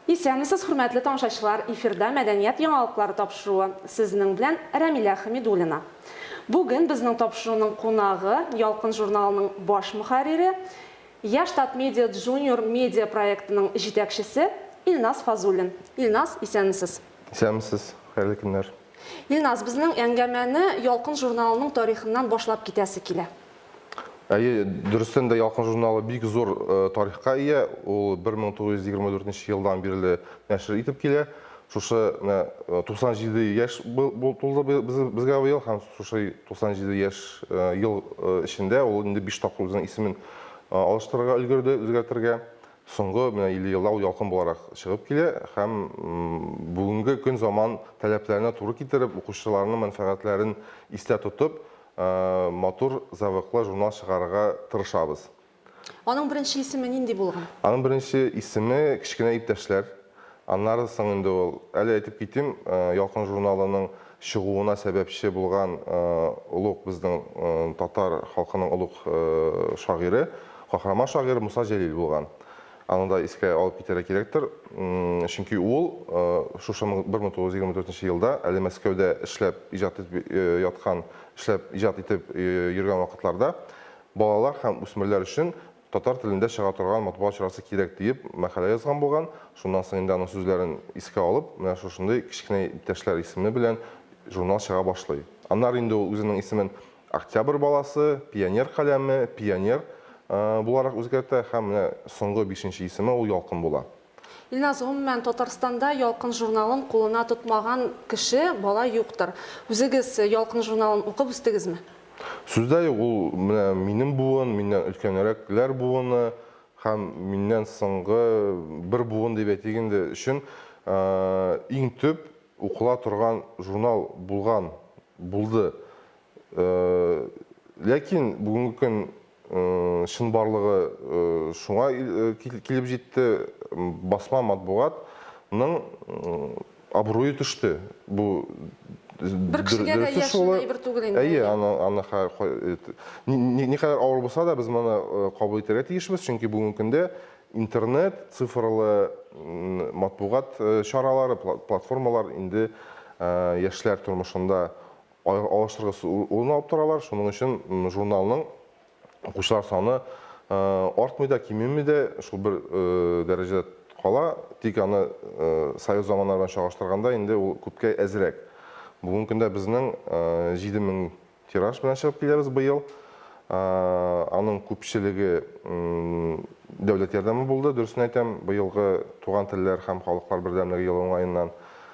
Исәнмесез, хөрмәтле тамашачылар, эфирда мәдәният яңалыклары тапшыруы. Сезнең белән Рәмилә Хәмидуллина. Бүген безнең тапшыруның кунагы Ялкын журналының баш мөхәррире, Яшь Татмедиа Джуниор медиа проектының җитәкчесе Илназ Фазуллин. Илназ, исәнмесез! Исәнмесез, хәерле көннәр! Илназ, безнең әңгәмәне Ялкын журналының тарихыннан башлап китәсе килә. Әйе, дөрестән дә Ялкын журналы бик зур тарихка ия. Ул 1924 елдан бирле нәшер итеп килә. Шушы 97 яшь тулды безгә быел һәм шушы 97 яшь ел эчендә ул инде биш тапкыр үзенең исемен алыштырырга өлгерде, үзгәртергә. Соңгы менә 50 елда ул Ялкын буларак чыгып килә һәм бүгенге көн заман таләпләренә туры китереп, укучыларның мәнфәгатьләрен истә тотып, матур, зәвыклы журнал чыгарырга тырышабыз. Аның беренче исеме нинди булган? Аның беренче исеме Кечкенә иптәшләр. Аннары соң инде ул, әле әйтеп китим, Ялкын журналының чыгуына сәбәпче булган олуг безнең татар халкының олуг шагыйре, каһарман шагыйре Муса Җәлил булган. Аны да искә алып китәргә кирәктер. Чөнки ул шушы 1924 елда, әле Мәскәүдә эшләп иҗат итеп яткан, эшләп иҗат итеп йөргән вакытларда Балалар һәм үсмерләр өчен татар телендә чыга торган матбугат чарасы кирәк, диеп мәкалә язган булган. Шуннан соң инде аның сүзләрен искә алып, менә шушындый Кечкенә иптәшләр исеме белән журнал чыга башлый. Аннары инде ул үзенең исемен Октябрь баласы, Пионер каләме, Пионер, буларак үзгәртә һәм менә соңгы бишенче исеме ул Ялкын була. Илназ, гомумән, Татарстанда Ялкын журналын кулына тотмаган кеше, бала юктыр. Үзегез Ялкын журналын укып үстегезме? Сүздә юк, ул менә минем буын, миннән өлкәнрәкләр буыны һәм миннән соңгы бер буын дип әйтик инде, өчен иң төп укыла торган журнал булган, булды. Ләкин бүгенге көн шын барлыгы шуңа килеп җитте, басма матбугат ның абруе төште. Бу бер кешегә дә яшенле әйбер түгел инде. Әйе, аны аны никадәр авыр булса да, без моны кабул итәргә тиешбез, чөнки бүгенге көндә интернет, цифрлы матбугат чаралары, платформалар инде яшьләр тормышында алыштыргысыз урын алып торалар, шуның өчен журналның укучылар саны артмый да, кимеми дә, шул бер дәрәҗәдә кала, тик аны совет заманнары белән чагыштырганда инде ул күпкә әзрәк. Бүгенге көндә безнең 7000 тираж белән чыгып киләбез быел. Аның күпчелеге дәүләт ярдәме булды, дөресен әйтәм, быелгы Туган телләр һәм халыклар бердәмлеге елы уңаеннан.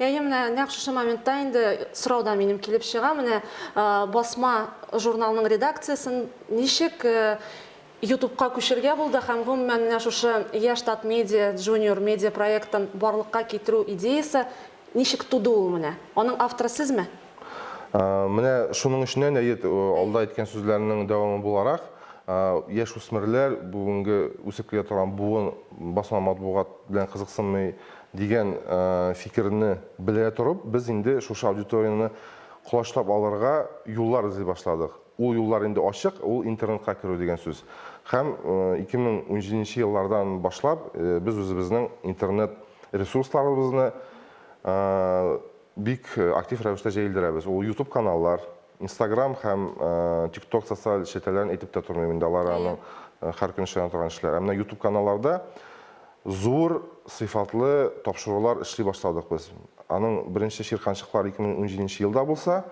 Әйе, менә нәкъ шушы моментта инде сорау да минем килеп чыга. Менә басма журналның редакциясен ничек Ютубка күчергә булды һәм гомумән менә шушы Яшь Тат Медиа, Junior Media проектын барлыкка китерү идеясе ничек туды ул менә? Аның авторы сезме? Менә шуның эченнән әйе, алда әйткән сүзләрнең дәвамы буларак, яшүсмерләр, бүгенге үсеп килә торган буын басма матбугат белән кызыксынмый, Дигән фикерне белә торып, без инде шушы аудиторияне колачлап алырга юллар эзли башладык. Ул юллар инде ачык, ул интернетка керү дигән сүз. Һәм 2017 нче еллардан башлап без үзебезнең интернет ресурсларыбызны бик актив рәвештә җәелдерәбез. Ул ютуб каналлар, Инстаграм һәм тикток социаль челтәрләрен әйтеп тә тормыйм инде, алар аның һәр көн эшләнә торган эшләр. Ә менә YouTube каналларда зур сыйфатлы тапшырулар эшли башладык без. Аның беренче чирканчыклар 2017 елда булса,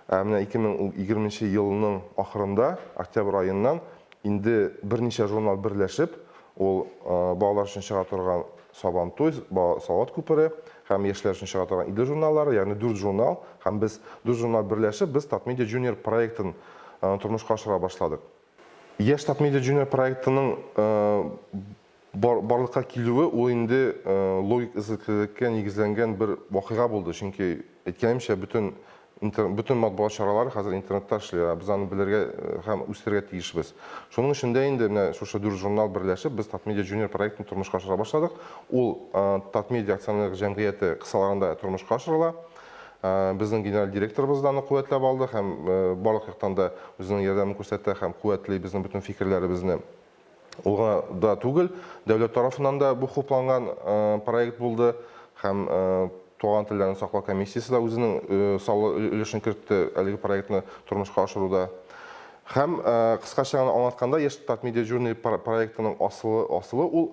ә менә 2020 елның ахырында, октябрь аеннан инде берничә журнал берләшеп, ул балалар өчен чыга торган Сабантуй, Бала салават күпере һәм яшьләр өчен чыга торган Идел журналлары, ягъни дүрт журнал һәм без, дүрт журнал берләшеп, без Татмедиа Junior проектын тормышка ашыра башладык. Яшь Татмедиа Junior проектының барлыкка килүе, ул инде логик эзлеклелеккә нигезләнгән бер вакыйга булды, чөнки, әйткәнемчә, бөтен Интер, бөтен матбугат чаралары хәзер интернетта эшли, ә без аны белергә һәм үстерергә тиешбез. Шуның өчен дә инде менә шушы дүрт журнал берләшеп, без Татмедиа Junior проектын тормышка ашыра башладык. Ул Татмедиа акционерлык җәмгыяте кысаларында тормышка ашырыла. Безнең генераль директорыбыз да аны куәтләп алды һәм барлык яктан да үзенең ярдәмен күрсәтә һәм куәтли безнең бөтен фикерләребезне. Ул гына да түгел, дәүләт тарафыннан да бу хупланган проект булды һәм Туган телләрне саклау комиссиясе дә үзенең саллы өлешен кертте әлеге проектны тормышка ашыруда. Һәм кыскача гына аңлатканда, Яшь Татмедиа Journey проектының асылы асылы ул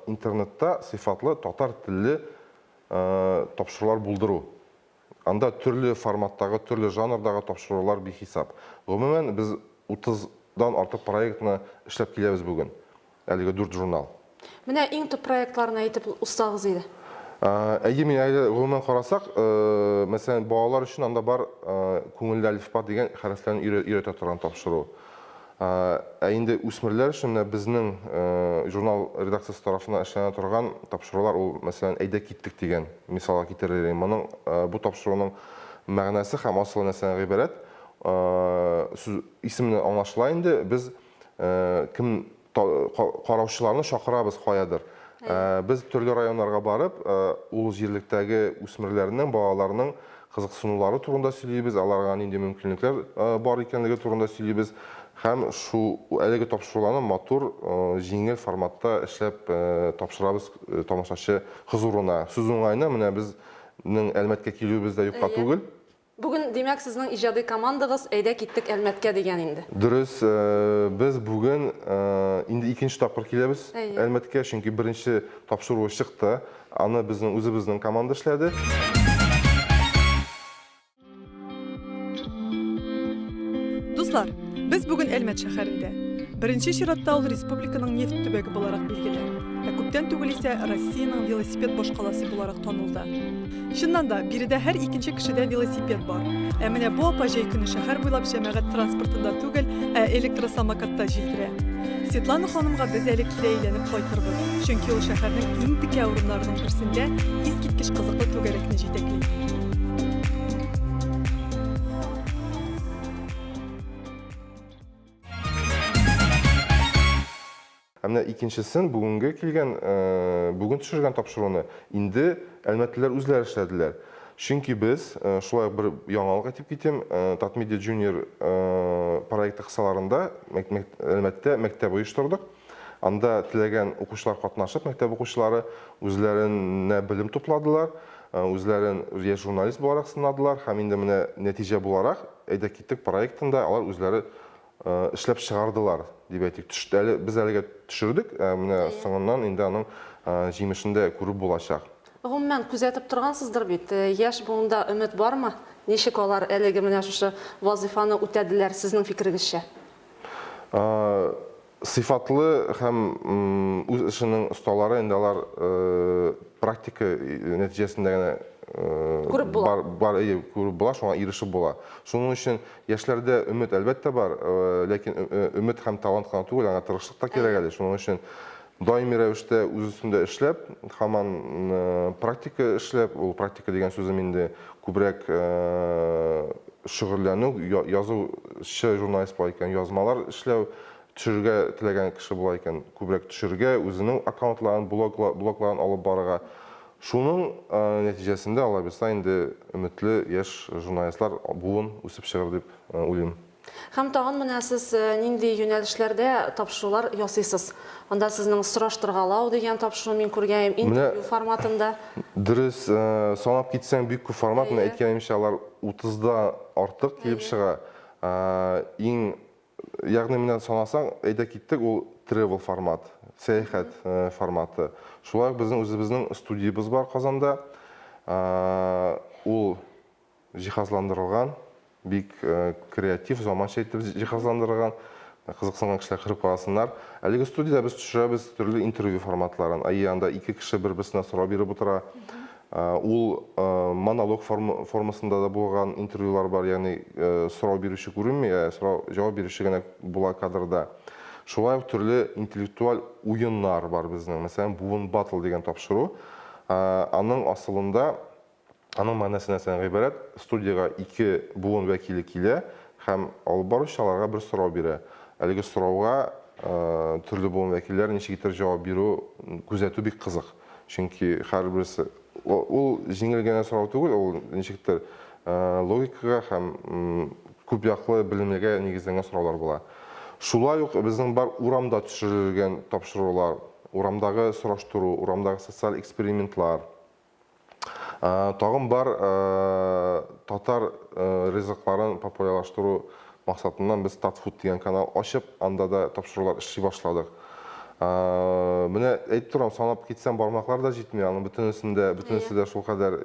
интернетта сыйфатлы татар телле тапшырулар булдыру. Анда төрле форматтагы, төрле жанрдагы тапшырулар бихисап. Гомумән, без 30 дан артык проектны эшләп киләбез бүген. Әлеге дүрт журнал. Менә иң төп проектларны әйтеп узсагыз иде. Әйе, мин әле гомумән карасак, мәсәлән, балалар өчен анда бар Күңелле әлифба дигән хәрефләрне өйрәтә торган тапшыру. Ә инде үсмерләр өчен менә безнең журнал редакциясе тарафыннан эшләнә торган тапшырулар ул, мәсәлән, Әйдә киттек дигән мисалга китерер идем. Моның бу тапшыруның мәгънәсе һәм асылы нәрсәдән гыйбарәт? Сүз исеменнән аңлашыла инде, без кем караучыларны чакырабыз каядыр. Без төрле районнарга барып, ул җирлектәге үсмерләрнең, балаларның кызыксынулары турында сөйлибез, аларга нинди мөмкинлекләр бар икәнлеге турында сөйлибез һәм шу әлеге тапшыруларны матур, җиңел форматта эшләп тапшырабыз тамашачы хозурына. Сүз уңаена, менә без нең Әлмәткә килүебез дә юкка түгел. Бүген, димәк, сезнең иҗади командагыз Әйдә киттек Әлмәткә дигән инде. Дөрес, без бүген инде икенче тапкыр киләбез Әлмәткә, чөнки беренче тапшыруы чыкты. Аны безнең үзебезнең команда эшләде. Дуслар, без бүген Әлмәт шәһәрендә. Беренче чиратта ул республиканың нефть төбәге буларак билгеле, ә күптән түгел исә Россиянең велосипед башкаласы буларак танылды. Чыннан да, биредә һәр икенче кешедә велосипед бар. Ә менә бу апа җәй көне шәһәр буйлап җәмәгать транспортында түгел, ә электросамокатта җилдерә. Светлана ханымга без әле кире әйләнеп кайтырбыз, чөнки ул шәһәрнең иң текә урыннарының берсендә искиткеч кызыклы түгәрәкне җитәкли. Ә менә икенчесен бүгенге килгән, бүген төшергән тапшыруны инде әлмәтлеләр үзләре эшләделәр. Чөнки без, шулай ук бер яңалык әйтеп китим, Татмедиа Junior проекты кысаларында Әлмәттә мәктәп оештырдык. Анда теләгән укучылар катнашып, мәктәп укучылары үзләренә белем тупладылар, үзләрен яшь журналист буларак сынадылар һәм инде менә нәтиҗә буларак Әйдәк китик проектында алар үзләре эшләп чыгардылар дип әйтик. Әле без әлегә төшердек, ә менә соңыннан инде аның җимешен дә күреп булачак. Гомумән, күзәтеп торгансыздыр бит, яшь буында өмет бармы? Ничек алар әлеге менә шушы вазыйфаны үтәделәр, сезнең фикерегезчә? Сыйфатлы һәм үз эшенең осталары инде алар практика нәтиҗәсендә генә күреп була, шуңа ирешеп була. Шуның өчен Яшьләрдә өмет, әлбәттә, бар, ләкин өмет һәм талант кына түгел, аңа тырышлык та кирәк әле. Шуның өчен даими рәвештә үз өстендә эшләп, һаман практика эшләп, ул практика дигән сүзем инде күбрәк шөгыльләнү, язучы журналист була икән, язмалар эшләү, төшерергә теләгән кеше була икән, күбрәк төшерергә, үзенең аккаунтларын, блогларын алып барырга. Шуның нәтиҗәсендә алайбызса инде өметле яшь журналистлар буын үсеп чыгыр дип уйлыйм. Һәм тагын менә сез нинди юнәлешләрдә тапшырулар ясыйсыз? Анда сезнең сораштыргалау дигән тапшыру мин күргәем, интервью форматында. Дөрес, санап китсәң бик күп формат, мин әйткәнемчә алар утыздан артык килеп чыга. Иң Ягъни менә санасаң, әйдә киттек, ул тревел формат, сәяхәт форматы. Шулай ук безнең үзебезнең студиябез бар Казанда. Ул җиһазландырылган, бик креатив, заманча итеп җиһазландырылган. Кызыксынган кешеләр кереп карасыннар. Әлеге студиядә без төшерәбез төрле интервью форматларын. Әйе, анда ике кеше бер-берсенә сорау биреп утыра. Ул монолог формасында да булган интервьюлар бар, ягъни сорау бирүче күренми, ә сорау, җавап бирүче генә була кадрда. Шулай ук төрле интеллектуаль уеннар бар безнең, мәсәлән, Буын Battle дигән тапшыру. Аның асылында, аның мәгънәсе нәрсәдән гыйбарәт? Студиягә ике буын вәкиле килә һәм алып баручы аларга бер сорау бирә. Әлеге сорауга төрле буын вәкилләре ничек итеп җавап бирү, күзәтү бик кызык. Чөнки һәрберсе ул җиңел генә сорау түгел, ул ничектер логикага һәм күп яклы белемлегә нигезләнгән сораулар була. Шулай ук безнең бар урамда төшерелгән тапшырулар, урамдагы сораштыру, урамдагы социаль экспериментлар, Тагын бар татар ризыкларын популярлаштыру максатыннан без Татфуд дигән канал ачып, анда да тапшырулар эшли башладык. Менә әйтеп торам, санап китсәм бармаклар да җитми, аның бөтенесен дә, бөтенесе дә шулкадәр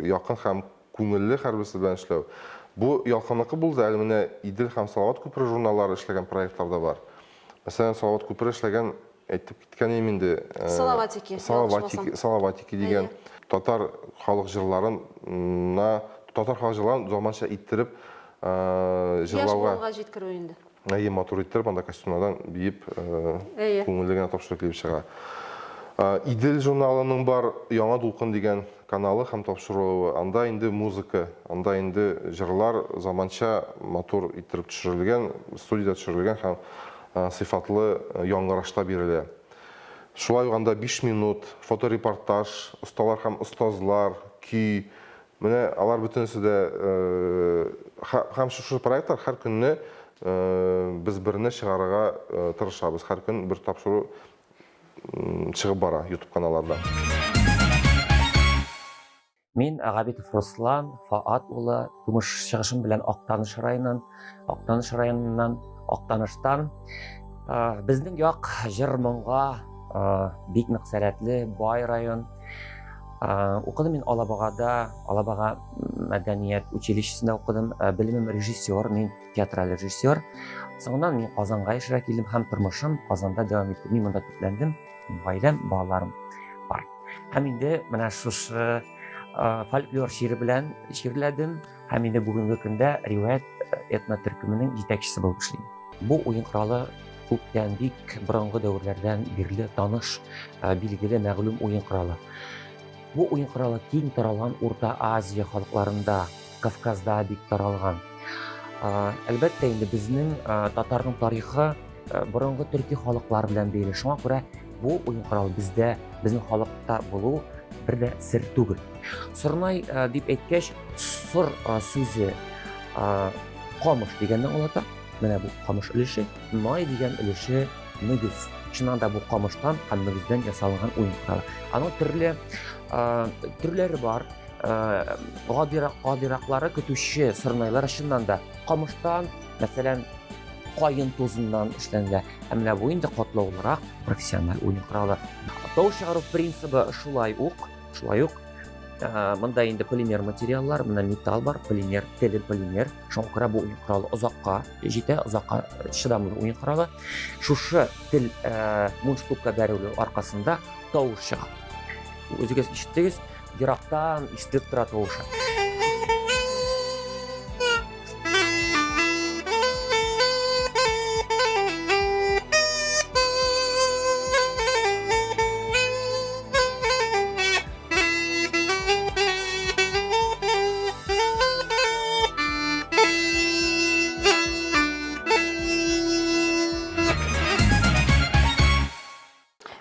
якын һәм күңелле һәрберсе белән эшләү. Бу Ялкынныкы булды, әле менә Идел һәм Салават күпере журналлары эшләгән проектлар да бар. Мәсәлән, Салават күпере эшләгән Әйтеп киткән идем инде. Э, Салаватики. Салаватики, Салаватики дигән татар халык җырларына, татар халык җырларын заманча иттереп э, җырлауга. Яш җиткерү инде. Әйе, матур иттереп, анда костюмнардан биеп, э, күңелле генә тапшырып килеп чыга. Идел журналының бар Яңа дулкын дигән каналы һәм тапшырылуы, анда инде музыка, анда инде җырлар заманча матур иттереп төшерелгән, студиядә төшерелгән һәм сыйфатлы яңгырашта бирелә. Шулай ук анда биш минут, фоторепортаж, осталар һәм остазлар, көй, менә алар бөтенесе дә һәм шушы проектлар һәр көнне без берне чыгарырга тырышабыз, һәр көн бер тапшыру чыгып бара YouTube каналларда. Мин Агабитов Руслан Фаат улы, тумыш чыгышым белән Актаныш районыннан, Актаныш районыннан, Актаныштан. Безнең як җыр моңга бик нык сәләтле, бай район. Укыдым мин Алабагада, Алабага мәдәният училищесында укыдым. Белемем режиссер мин. театраль режиссер. Соңыннан мин Казанга яшәргә килдем һәм тормышым Казанда дәвам итте. Мин монда төпләндем, гаиләм, балаларым бар. Һәм инде менә шушы фольклор шигыре белән шигырьләдем һәм инде бүгенге көндә риваять этно төркеменең җитәкчесе булып эшлим. Бу уен коралы күптән бик борынгы дәверләрдән бирле таныш, билгеле, мәгълүм уен коралы. Бу уен коралы киң таралган Урта Азия халыкларында, Кавказда бик таралган. Әлбәттә инде безнең татарның тарихы борынгы төрки халыклар белән бәйле. Шуңа күрә бу уен коралы бездә, безнең халыкта булу бер дә сер түгел. Сорнай дип әйткәч, сор сүзе камыш дигәнне аңлата. Менә бу камыш өлеше, най дигән өлеше Мөгез. Чыннан да бу камыштан һәм мөгездән ясалган уен коралы. Аның төрле төрләре бар. Гадирак, гадираклары көтүче сырнайлар чыннан да камыштан, мәсәлән, кайын тузыннан эшләнгән. Ә менә бу инде катлаулырак профессиональ уен коралы. Тау чыгару принцибы шулай ук, шулай ук мында инде полимер материаллар, менә металл бар, полимер, теле полимер. Шуңа күрә бу уен коралы озакка җитә озакка чыдамлы уен коралы. Шушы тел э, мундштукка бәрелү аркасында тавыш чыга. Үзегез ишеттегез, ерактан ишетелеп тора тавышы.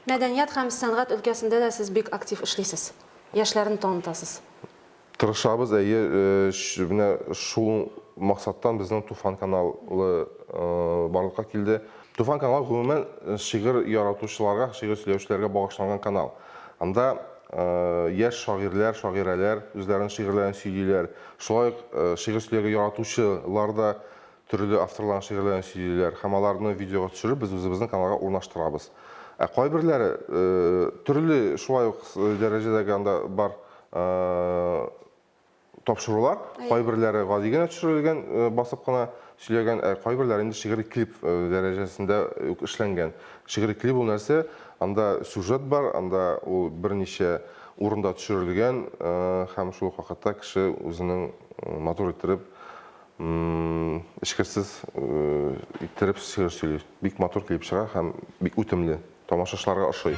Мәдәният һәм сәнгать өлкәсендә дә сез бик актив эшлисез. Яшьләрне танытасыз. Тырышабыз, әйе, э, менә шул максаттан безнең Туфан каналы э, барлыкка килде. Туфан каналы гомумән шигырь яратучыларга, шигырь сөйләүчеләргә багышланган канал. Анда яшь шагыйрьләр, шагыйрәләр үзләренең шигырьләрен сөйлиләр. Шулай ук шигырь сөйләргә яратучылар да төрле авторларның шигырьләрен сөйлиләр һәм аларны видеога төшереп без үзебезнең каналга урнаштырабыз. Ә кайберләре төрле шулай ук дәрәҗәдәге анда бар тапшырулар. Кайберләре гади генә төшерелгән, э, басып кына сөйләгән, ә кайберләре инде шигъри клип э, дәрәҗәсендә үк эшләнгән. Шигъри клип ул нәрсә? Анда сюжет бар, анда ул берничә урында төшерелгән э, һәм шул ук вакытта кеше үзенең э, матур иттереп м, эчкерсез э, иттереп шигырь сөйли. Бик матур клип чыга һәм бик үтемле. Тамашачыларга ошый.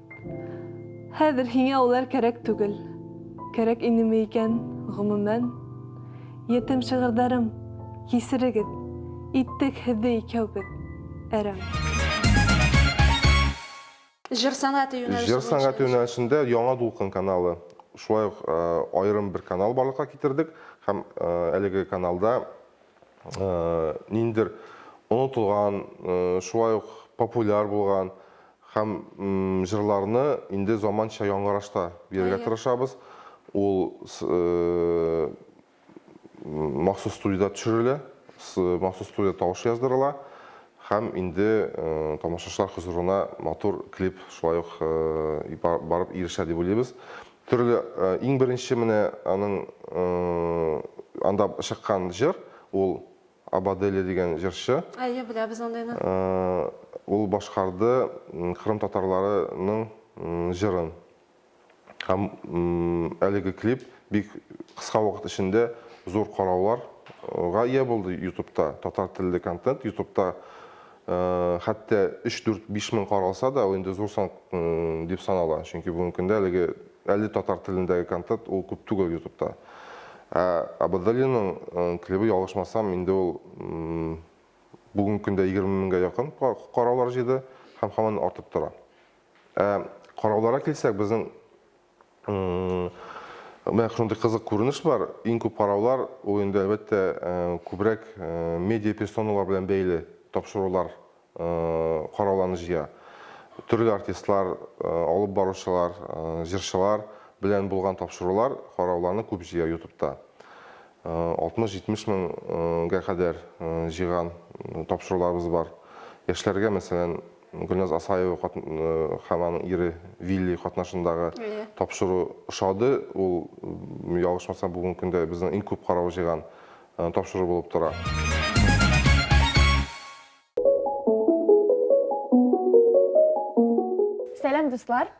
Хәзер һиңә улар кәрәк түгел. Кәрәк инеме икән, гомумән? Ятим шигырьдарым, кисерегез, иттек һезде икәүбез әрәм. Җыр сәнгате юнәлеше буенча. Җыр сәнгате юнәлешендә Яңа дулкын каналы, шулай ук аерым бер канал барлыкка китердек һәм әлеге каналда ниндидер онытылган, шулай ук популяр булган һәм җырларны инде заманча яңгырашта бирергә тырышабыз. Ул махсус студиядә төшерелә, махсус студия тавышы яздырыла һәм инде тамашачылар хозурына матур клип шулай ук барып ирешә дип уйлыйбыз. Төрле, иң беренче менә аның анда чыккан җыр, ул Абаделе дигән җырчы. Әйе, беләбез андыйны. Ул башкарды кырым татарларының җырын. Һәм әлеге клип бик кыска вакыт эчендә зур карауларга ия булды ютубта, татар телле контент ютубта хәтта 3-4-5 мең каралса да, ул инде зур сан дип санала. Чөнки бүгенге көндә әлеге әле татар телендәге контент ул күп түгел ютубта. Ә Абадалиның клибы, ялгышмасам, инде ул бүгенге көндә 20 меңгә якын караулар җыйды һәм һаман артып тора. Ә карауларга килсәк, безнең Менә шундый кызык күренеш бар. Иң күп караулар ул инде әлбәттә күбрәк медиа персоналар белән бәйле тапшырулар карауларны җыя. Төрле артистлар, алып баручылар, җырчылар белән булган тапшырулар карауларны күп җыя ютубта. 60-70 меңгә кадәр җыйган тапшыруларыбыз бар. Яшьләргә, мәсәлән, Гөлназ Асаева һәм аның ире Вилли катнашындагы тапшыру ошады. Ул, ялгышмасам, бүгенге көндә безнең иң күп карау җыйган тапшыру булып тора. Сәлам, дуслар!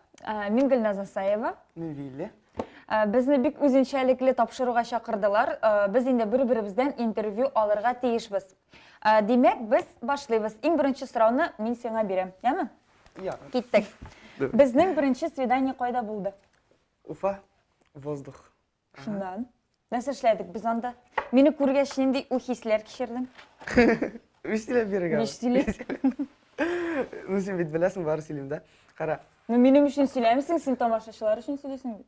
Мин Гөлназ Асаева. Мин Вилли. Безне бик үзенчәлекле тапшыруга чакырдылар. Без инде бер-беребездән интервью алырга тиешбез. Ә, Димәк, без башлыйбыз. Иң беренче сорауны мин сиңа бирәм, яме? Я. Киттек. Давай. Безнең беренче свидание кайда булды? Уфа. Воздух. Шуннан. Нәрсә эшләдек без анда? Мине күргәч, нинди уй хисләр кичердең? Биш сөйләп бирергә. Биш сөйлә. Ну, син бит беләсең, бары сөйлим дә. Кара. Ну, минем өчен сөйләмисең, син тамашачылар өчен сөйлисең бит.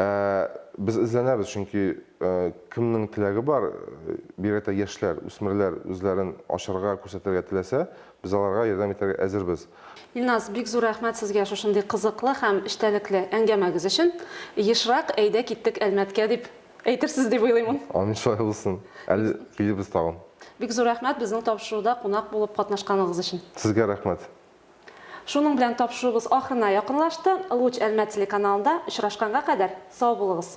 Ә без эзләнәбез, чөнки кемнең теләге бар, бигрәк тә яшьләр, үсмерләр үзләрен ачарга, күрсәтергә теләсә, без аларга ярдәм итәргә әзербез. Илназ, бик зур рәхмәт сезгә шушындый кызыклы һәм эчтәлекле әңгәмәгез өчен. Ешрак әйдә киттек Әлмәткә дип әйтерсез дип уйлыйм. Амин, шулай булсын. Әле килербез тагын. Бик зур рәхмәт безнең тапшыруда кунак булып катнашканыгыз өчен. Сезгә рәхмәт. Шуның белән тапшыруыбыз ахырына якынлашты. Луч Әлмәт телеканалында очрашканга кадәр сау булыгыз!